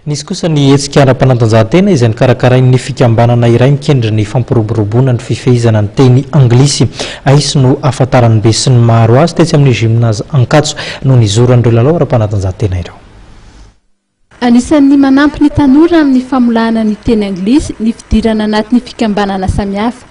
Nisy kosa ny hetsika ara-panatanjahantena izay nokarakarain'ny fikambanana iray mikendry ny fampiroboroboana ny fifehezana ny teny anglisy. Aici no ahafantaran'ny besinimaro azy tetsy amin'ny Gymnase Ankatso no nizoran'ireo lalao ara-panatanjahantena ireo. Anisan'ny manampy ny tanora amin'ny famolahana ny teny anglisy ny fidirana anatin'ny fikambanana samihafa.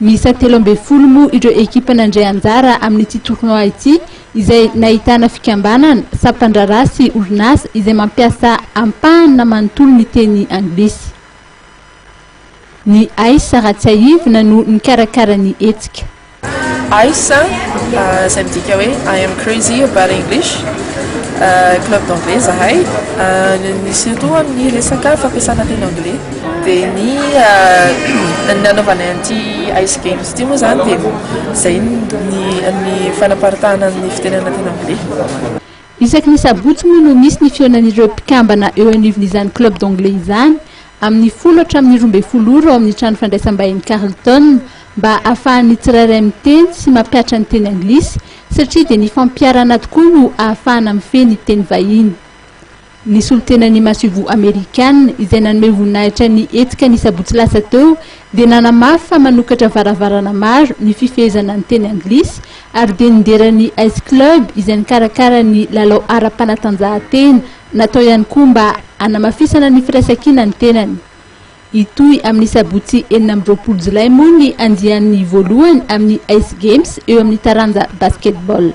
Miisa telo ambin'ny folo moa ireo ekipa nandray anjara amin'ity tournoi ity izay nahitana fikambanana, sampandraharaha sy orinasa izay mampiasa ampahany na manontolo ny teny anglisy. Ny Aisa Ratsiahivina no nikarakara ny hetsika. Aisa, izay midika hoe I am crazy about English, club d'anglais izahay, surtout amin'ny resaka fampiasana teny anglais. Dia ny nanaovana an'ity Ice Games ity moa izany dia izay ny fanaparitahana ny fitenenana teny anglais. Isaky ny sabotsy moa no misy ny fihaonan'ireo mpikambana eo anivon'izany club d'anglais izany amin'ny folo hatramin'ny roa ambin'ny folo ora ao amin'ny trano fandraisam-bahiny Carlton mba ahafahan'ny tsirairay miteny sy mampihatra ny teny anglisy satria dia ny fampiharana tokoa no ahafahana mifehy ny teny vahiny. Ny solontenan'ny masoivoho Amerikana izay nanome voninahitra ny hetsika ny sabotsy lasa teo dia nanamafy fa manokatra varavarana maro ny fifehezana ny teny anglisy ary dia nidera ny Ice Club izay nikarakara ny lalao ara-panatanjahantena natao ihany koa mba hanamafisana ny firaisankina ny tenany. Hitohy amin'ny sabotsy enina amby roapolo jolay moa ny andiany voalohany amin'ny Ice Games eo amin'ny taranja Basketball.